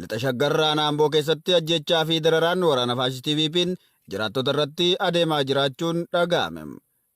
Lixa Shaggar Aanaa Amboo keessatti ajjechaa fi dararaan waraana faashistii PP'n jiraattota irratti adeemaa jiraachuun dhaga'ame.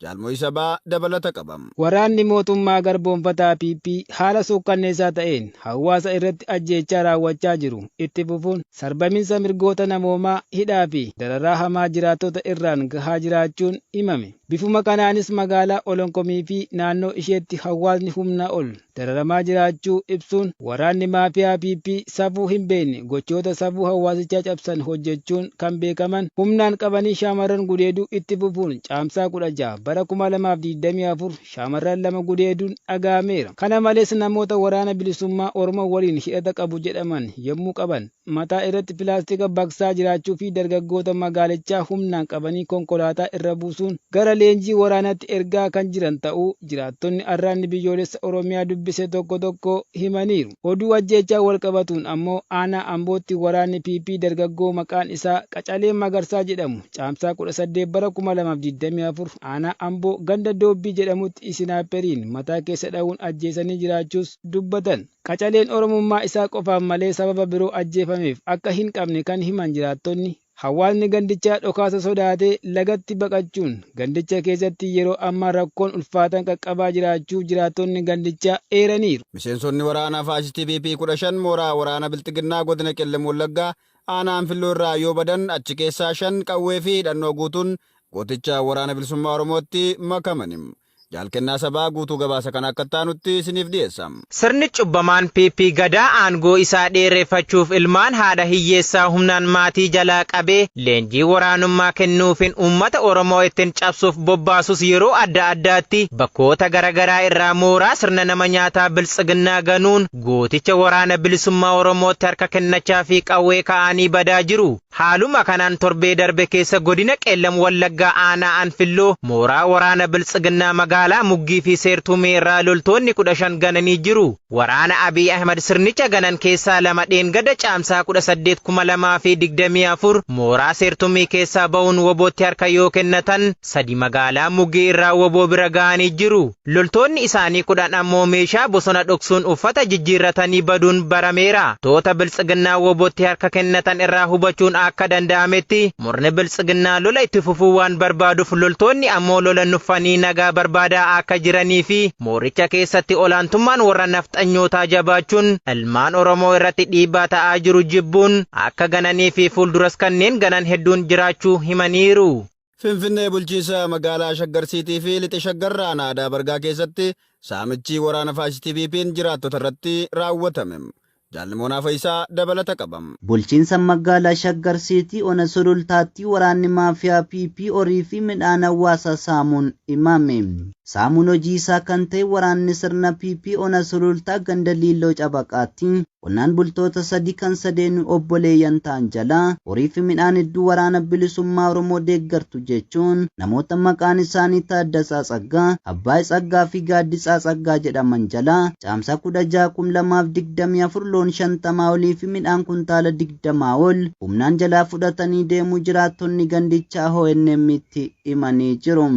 Jaal Mo'iisa Baa dabalata qaba. Waraanni mootummaa garboomfataa PP haala suukkanneessaa ta'een hawaasa irratti ajjeechaa raawwachaa jiru itti fufuun sarbaminsa mirgoota namoomaa, hidhaa fi dararaa hamaa jiraattota irraan gahaa jiraachuun himame. Bifuma kanaanis magaalaa Olonkomii fi naannoo isheetti hawaasni humnaa ol. dararamaa jiraachuu ibsuun, waraanni maafiyaa PP safuu hin beekne gochoota safuu hawaasichaa cabsan hojjechuun kan beekaman humnaan qabanii shaamarran gudeeduu itti fufuun Caamsaa 16 bara 2024 shaamarran lama gudeeduun dhaga'ameera. Kana malees namoota Waraana Bilisummaa Oromoo waliin hidhata qabu jedhaman yommuu qaban, mataa irratti pilaastika baqsaa jiraachuu fi dargaggoota magaalichaa humnaan qabanii konkolaataa irra buusuun gara leenjii waraanaatti ergaa kan jiran ta'uu jiraattonni Arraatni Biyyoolessa Oromiyaa dubbise tokko tokko himaniiru. Oduu ajjeechaan walqabatuun ammoo aanaa Ambootti waraanni PP dargaggoo maqaan isaa Qacalee Magarsaa jedhamu Caamsaa 18 bara 2024 aanaa Amboo ganda Doobbii jedhamutti isinaayperiin mataa keessa dha'uun ajjeesanii jiraachuus dubbatan. Qacaleen Oromummaa isaa qofaan malee sababa biroo ajjeefameef akka hin qabne kan himan jiraattonni, hawaasni gandichaa dhokaasa sodaatee lagatti baqachuun gandicha keessatti yeroo ammaa rakkoon ulfaataan qaqqabaa jiraachuu jiraattonni gandichaa eeraniiru. Miseensonni waraana faashistii PP 15 mooraa waraana Bilxiginnaa godina Qellem Wallaggaa aanaa Anfilloo irraa yoo badan achi keessaa 5 qawwee fi hidhannoo guutuun gooticha Waraana Bilisummaa Oromootti makamani. Jaal Kennaa Sabaa guutuu gabaasa kana akka itti aanutti isiniif dhiyeessa. Sirni cubbamaan PP Gadaa aangoo isaa dheereffachuuf ilmaan haadha hiyyeessaa humnaan maatii jalaa qabee leenjii waraanummaa kennuufin uummata Oromoo ittin cabsuuf bobbaasus yeroo adda addaatti bakkoota garagaraa irraa mooraa sirna nama nyaataa Biltsiginnaa ganuun gooticha Waraana Bilisummaa Oromootti harka kennachaafi qawwee ka'aanii badaa jiru. Haaluma kanaan torbee darbe keessa godina Qeellam Wallaggaa aanaa Anfilloo mooraa waraana Biltsiginnaa magaalaa Muggii fi Seertuumee irraa loltoonni 15 gananii jiru. Waraana Abiy Ahimad sirnicha ganan keessaa lama dheengadda Caamsaa 18, 2024 mooraa Seertumii keessaa ba'uun wbo tti harka yoo kennatan, sadi magaalaa Muggii irraa wbo bira ga'anii jiru. Loltoonni isaanii 10 ammoo meeshaa bosona dhoksuun uffata jijjiirratanii baduun barameera. Toota Biltsiginnaa WBOtti harka kennatan irraa hubachuun akka danda'ametti murni Biltsiginnaa lola itti fufuu waan barbaaduuf loltoonni ammoo lola nuffanii nagaa barbaadaa akka jiranii fi mooricha keessatti olaantummaan warra nafxanyootaa jabaachuun ilmaan Oromoo irratti dhiibbaa ta'aa jiru jibbuun akka gananii fi fuulduras kanneen ganan hedduun jiraachuu himaniiru. Finfinnee bulchiinsa magaalaa Shaggar Siitii fi Lixa Shaggar aanaa Adaa Bargaa keessatti saamichi waraana faashistii PP'n jiraattota irratti raawwatame. Jaal Nimoonaa Fayisaa dabalata qaba. Bulchiinsa magaalaa Shaggar Siitii ona Sulultaatti waraanni maafiyaa PP horii fi midhaan hawaasaa saamuun himame. Saamuun hojii isaa kan ta'e waraanni sirna PP ona Sulultaa ganda Liilloo Cabaqaatti qonnaan bultoota sadi kan sadeenuu obboleeyyan ta'an jalaa horii fi midhaan hedduu Waraana Bilisummaa Oromoo deeggartu jechuun namoota maqaan isaanii Taaddasaa Tsaggaa, Abbaay Tsaggaa fi Gaaddisaa Tsaggaa jedhaman jalaa Caamsaa 16,2024 loon 50 olii fi midhaan kuntaala 20 ol humnaan jalaa fudhatanii deemuu jiraattonni gandichaa ONM'tti himanii jiru.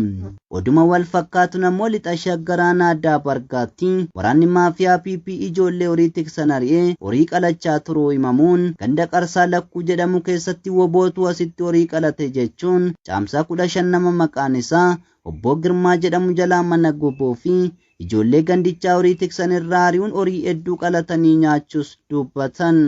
Oduma wal fakkaatuun ammoo Lixa Shaggar aanaa Daabargaatti waraanni maafiyaa PP ijoollee horii tiksan ari'ee horii qalachaa turuu himamuun ganda Qarsaa Lakkuu jedhamu keessatti WBOtu asitti horii qalate jechuun Caamsaa 15 nama maqaan isaa Obboo Girmaa jedhamu jalaa mana gubuu fi ijoollee gandichaa horii tiksan irraa ari'uun horii hedduu qalatanii nyaachuus dubbatan.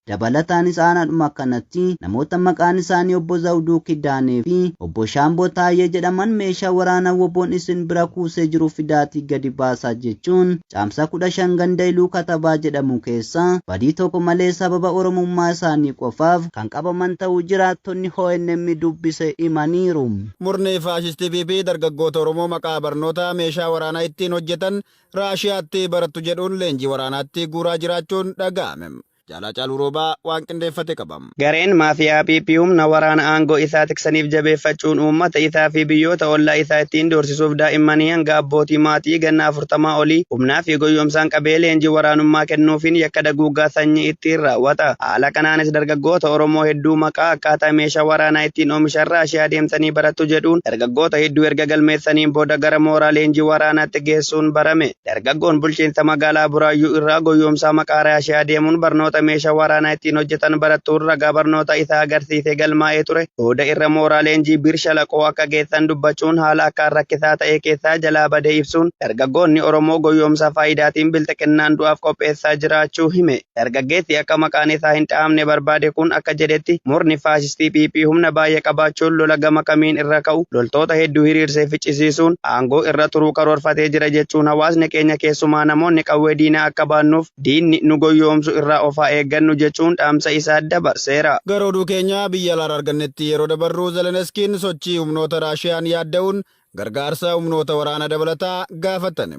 Dabalataanis aanaadhuma kanatti namoota maqaan isaanii Obbo Zawduu Kidaanee fi Obbo Shaamboo Taayyee jedhaman meeshaa waraanaa WBOn isin bira kuusee jiru fidaatii gadi baasaa jechuun Caamsaa 15 ganda Iluu Katabaa jedhamu keessaa badii tokko malee sababa Oromummaa isaanii qofaaf kan qabaman ta'uu jiraattonni ONM dubbise himaniiru. Murni faashistii PP dargaggoota Oromoo maqaa barnootaa meeshaa waraanaa ittiin hojjetan Raashiyaatti barattu jedhuun leenjii waraanaatti guuraa jiraachuun dhaga'ame. Jaal Haacaaluu Roobaa waan qindeeffate qaba. Gareen maafi'aa PP humna waraana aangoo isaa tiksaniif jabeeffachuun uummata isaa fi biyyoota ollaa isaa ittiin doorsisuuf daa'immanii hanga abbootii maatii ganna 40 olii humnaa fi goyyomsaan qabee leenjii waraanummaa kennuufiin yakka daguuggaa sanyii ittiin raawwata. Haala kanaanis dargaggoota Oromoo hedduu maqaa akkaataa meeshaa waraanaa ittiin oomishan Raashiyaa deemtanii barattu jedhuun dargaggoota hedduu erga galmeessaniin booda gara mooraa leenjii waraanaatti geessuun barame. Dargaggoon bulchiinsa magaalaa Buraayyuu irraa goyyoomsaa maqaa Raashiyaa deemuun barnoota meeshaa waraanaa ittiin hojjetan barattuun ragaa barnoota isaa agarsiisee galmaa'ee ture booda irra mooraa leenjii Bir Shalaqoo akka geessan dubbachuun haala akkaan rakkisaa ta'ee keessaa jalaa badee ibsuun dargaggoonni Oromoo goyyoomsaa faayidaatiin bilxiqinnaan du'aaf qopheessaa jiraachuu hime. Dargaggeessi akka maqaan isaa hin dha'amne barbaade kun akka jedhetti, murni faashistii PP humna baay'ee qabaachuun lola gama kamiin irra ka'u loltoota hedduu hiriirsee ficcisiisuun aangoo irra turuu karoorfatee jira jechuun hawaasni keenya keessumaa namoonni qawwee diinaa akka baannuuf diinni nu goyyoomsu irraa of haa eeggannu jechuun dhaamsa isaa dabarseera. Gara oduu keenya biyya alaarra argannetti yeroo dabarru Zeleneskiin sochii humnoota Raashiyaan yaadda'uun gargaarsa humnoota waraanaa dabalataa gaafatan.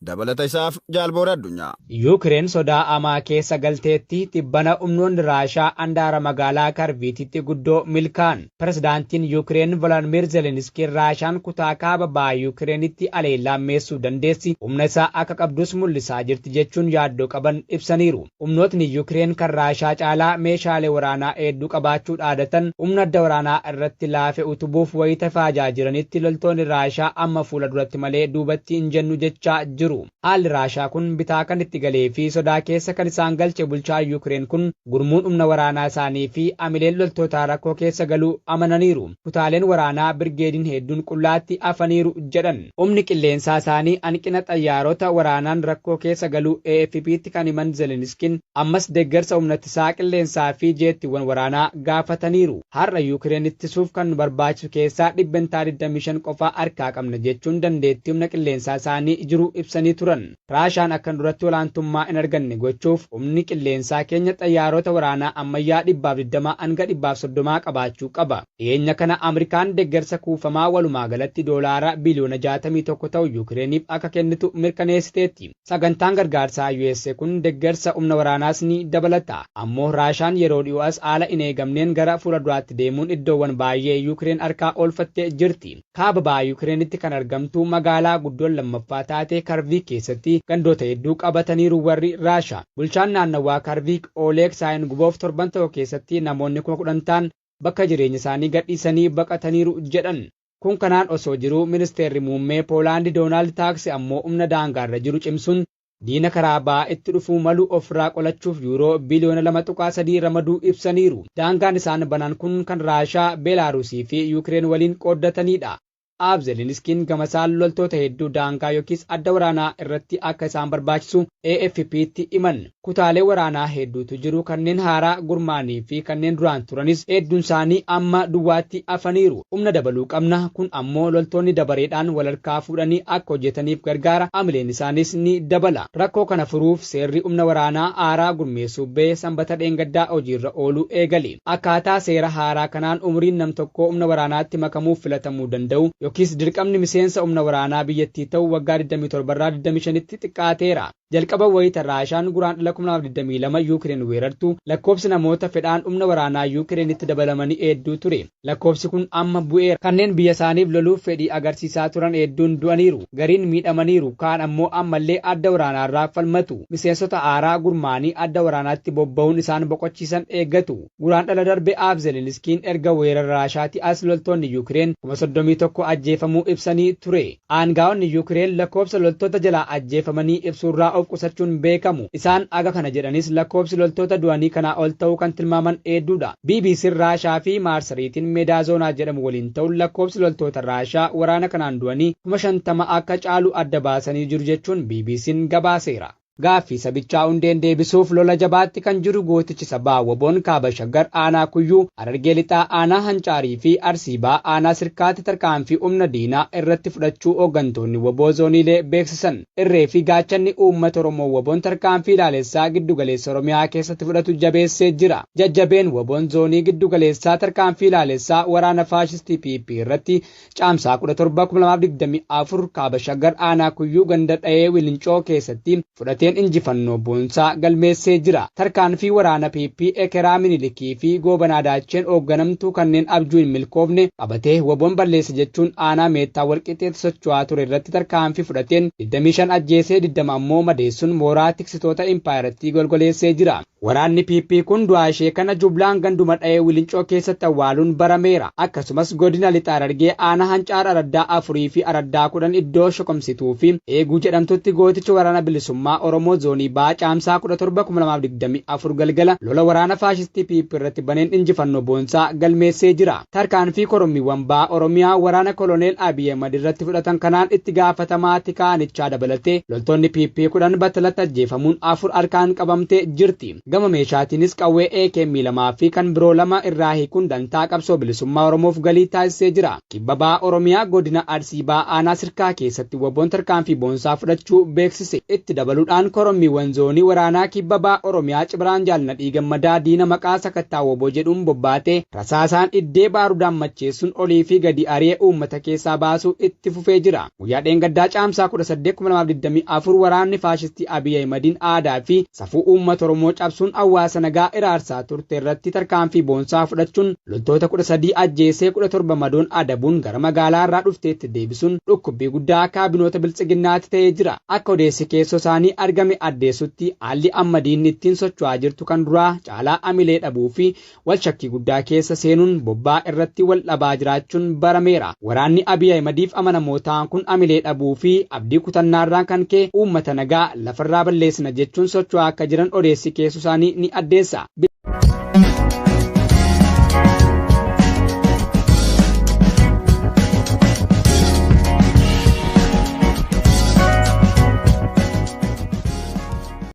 Dabalata isaaf Jaal Boora Addunyaa. Yuukireen sodaa hamaa keessa galteetti, Tibbana humnoonni Raashaa handaara magaalaa Karviititti guddoo milkaa'an. Pirezidaantiin Yuukireen Voloodmiir Zeleniskiin Raashaan kutaa kaaba baha Yuukireenitti haleellaa hammeessuu dandeessi, humna isaa akka qabdus mul'isaa jirti jechuun yaaddoo qaban ibsaniiru. Humnootni Yukireen kan Raashaa caalaa meeshaalee waraanaa heedduu qabaachuu dhaadatan humna adda waraanaa irratti laafe utubuuf wayita faajaa jiranitti loltoonni Raashaa amma fuula duratti malee duubatti hin jennu jechaa jiru. Haalli Raashaa kun bitaa kan itti galee fi sodaa keessa kan isaan galche bulchaan Yukireen kun gurmuun humna waraanaa isaanii fi amileen loltootaa rakkoo keessa galuu amananiiru. Kutaaleen waraanaa birgeediin heedduun qullaatti hafaniiru jedhan. Humni qilleensaa isaanii hanqina xayyaarota waraanaan rakkoo keessa galuu AFPtti kan himan Zeleniskiin, ammas deeggarsa humnattisaa qilleensaa fi jeettiiwwan waraanaa gaafataniiru. Har'a Yuukireen ittisuuf kan nu barbaachisu keessaa dhibbentaa 25 qofa harkaa qabna jechuun dandeettii humna qilleensaa isaanii jiru ibsanii turan. Raashaan akkan duratti olaantummaa hin arganne gochuuf humni qilleensaa keenya xayyaarota waraanaa ammayyaa 120 hanga 130 qabaachuu qaba. Dhiyeenya kana Amrikaan deggersa kuufamaa walumaagalatti doolaara biliyoona 61 ta'u Yuukireeniif akka kennitu mirkaneessiteetti. Sagantaan gargaarsaa US kun deggersa humna waraanaas ni dabalata. Ammoo Raashaan yeroo dhiyoo as haala hin eegamneen gara fuula duraatti deemuun iddoowwan baayyee Yuukireen harkaa oolfattee jirti. Kaaba baha Yuukireenitti kan argamtu magaalaa guddoon lammaffaa taate Karviik keessatti gandoota hedduu qabataniiru warri Raashaa. Bulchaan naannawaa Karviik Ooleeg Saayinguvoov torban tokko keessatti namoonni kuma 10 ta'an bakka jireenyasaanii gadhiisanii baqataniiru jedhan. Kun kanaan osoo jiruu Ministeerri Muummee Poolaandi Doonaald Taaksi ammoo humna daangaarra jiru cimsuun diina karaa bahaa itti dhufuu malu ofirraa qolachuuf Yuuroo biliyoona 2.3 ramaduu ibsaniiru. Daangaan isaan banan kun kan Raashaa, Beelaaruusiifi Yuukireen waliin qooddataniidha. Aab Zeleniskiin gamasaan loltoota hedduu daangaa yookiis adda waraanaa irratti akka isaan barbaachisu AFPtti himan. Kutaalee waraanaa hedduutu jiru, kanneen haaraa gurmaa'anii fi kanneen duraan turanis hedduunsaanii amma duwwaatti hafaniiru. Humna dabaluu qabna, kun ammoo loltoonni dabareedhaan walharkaa fuudhanii akka hojjetaniif gargaara, hamileen isaaniis ni dabala. Rakkoo kana furuuf seerri humna waraanaa haaraa gurmeessuu ba'e Sanbata dheengaddaa hojiirra ooluu eegale. Akkaataa seera haaraa kanaan umuriin nam-tokkoo humna waraanaatti makamuuf filatamuu danda'u yookiis dirqamni miseensa humna waraanaa biyyattii ta'u waggaa 27 irraa 25tti xiqqaateera. Jalqaba wayita Raashaan Guraandhala 2022 Yuukireen weerartu lakkoofsi namoota fedhaan humna waraanaa Yuukireenitti dabalamanii heedduu ture. Lakkoofsi kun amma bu'eera. Kanneen biyyasaaniif loluuf fedhii agarsiisaa turan heedduun du'aniiru. Gariin miidhamaniiru, kaan ammoo ammallee adda waraanaarraa falmatu. Miseensota haaraa gurmaa'anii adda waraanaatti bobba'uun isaan boqochiisan eeggatu. Guraandhala darbe Aab Zeleniskiin erga weerara Raashaatii as loltoonni Yukireen 31,000 ajjeefamuu ibsanii ture. Aangaa'onni Yukireen lakkoobsa loltoota jalaa ajjeefamanii ibsuurraa of qusachuun beekamu. Isaan haga kana jedhanis lakkoobsi loltoota du'anii kanaa ol ta'uu kan tilmaaman heedduudha. BBC'n Raashaa fi maarsariitiin Medaazonaa jedhamu waliin ta'uun lakkoofsi loltoota Raashaa waraana kanaan du'anii 50,000 akka caalu adda baasanii jiru jechuun BBC'n gabaaseera. Gaaffii sabichaa hundeen deebisuuf lola jabaatti kan jiru gootichi sabaa WBO'n Kaaba Shaggar aanaa Kuyyuu, Harargee Lixaa aanaa Hancaarii fi Arsii Bahaa aanaa Sirkaatti tarkaanfii humna diinaa irratti fudhachuu hooggantoonni wbo zooniilee beeksisan. Irree fi gaachanni uummata Oromoo wbon tarkaanfii ilaalessaa giddu galeessa Oromiyaa keessatti fudhatu jabeessee jira. Jajjabeen wbon Zoonii giddu galeessaa tarkaanfii ilaalessaa waraana faashistii PP irratti Caamsaa 17, 2024 Kaaba Shaggar Aanaa Kuyyuu ganda Dhayee Wilincoo keessatti fudhateen injifannoo boonsaa galmeessee jira. Tarkaanfii waraana PP ekeraa Minilik. Fakkii fi Goobanaa Daacheen oogganamtu kanneen abjuu hin milkoofne qabatee wbon balleessa jechuun aanaa Meettaa Walqixxeetti socho'aa ture irratti tarkaanfii fudhateen 25 ajjeesee 20 ammoo madeessuun mooraa tiksitoota impaayerattii golgoleessee jira. Waraanni PP kun du'aa ishee kana jublaan ganduma Dhayee Wilincoo keessatti awwaaluun barameera. Akkasumas Godina Lixa Harargee Aanaa Hancaar Araddaa 4 fi Araddaa 10 iddoo Shokomsituu fi Eeguu jedhamtutti gootichi Waraana Bilisummaa Oromoo Zoonii Bahaa Caamsaa 17, 2024 galgala lola waraana faashistii PP irratti baneen injifannoo boonsaa galmeessee jira. Tarkaanfii korommiiwwan Baha Oromiyaa waraana Koloneel Abiy Ahimad irratti fudhatan kanaan itti gaafatamaa tika aanichaa dabalatee loltoonni PP 10 battalatti ajjeefamuun 4 harkaan qabamtee jirti. Gama meeshaatiinis qawwee akm 2 fi kan biroo 2 irraa hiikuun dantaa qabsoo bilisummaa Oromoof galii taasisee jira. Kibba Baha Oromiyaa Godina Arsii Bahaa Aanaa Sirkaa keessatti wbon tarkaanfii boonsaa fudhachuu beeksise. Itti dabaluudhaan Korommiiwwan Zoonii Waraanaa Kibba Baha Oromiyaa Cibraan Jaal Nadhii Gammadaa diina maqaa sakattaa wbo jedhuun bobbaate rasaasaan dhiddee baarudaan macheessuun olii fi gadi ari'e uummata keessaa baasuu itti fufee jira. Guyyaa dheengaddaa Caamsaa 18, 2024 waraanni faashistii Abiy Ahimadiin aadaa fi safuu uummata Oromoo cabsuun hawaasa nagaa hiraarsaa turte irratti tarkaanfii boonsaa fudhachuun loltoota 13 ajjeesee 17 madoon adabuun gara magaalaa irraa dhufteetti deebisuun dhukkubbii guddaa kaabinoota Biltsiginnaatti ta'ee jira. Akka odeessi keessoo isaanii argame addeessutti haalli amma diinni ittiin socho'aa jirtu kan duraa caalaa hamilee dhabuu fi wal shakkii guddaa keessa seenuun bobbaa irratti wal dhabaa jiraachuun barameera. Waraanni Abiy Ahimadiif amanamoo ta'an kun amilee dhabuu fi abdii kutannaarraan kan ka'e uummata nagaa lafarraa balleessina jechuun socho'aa akka jiran odeessi keessu isaanii ni addeessa.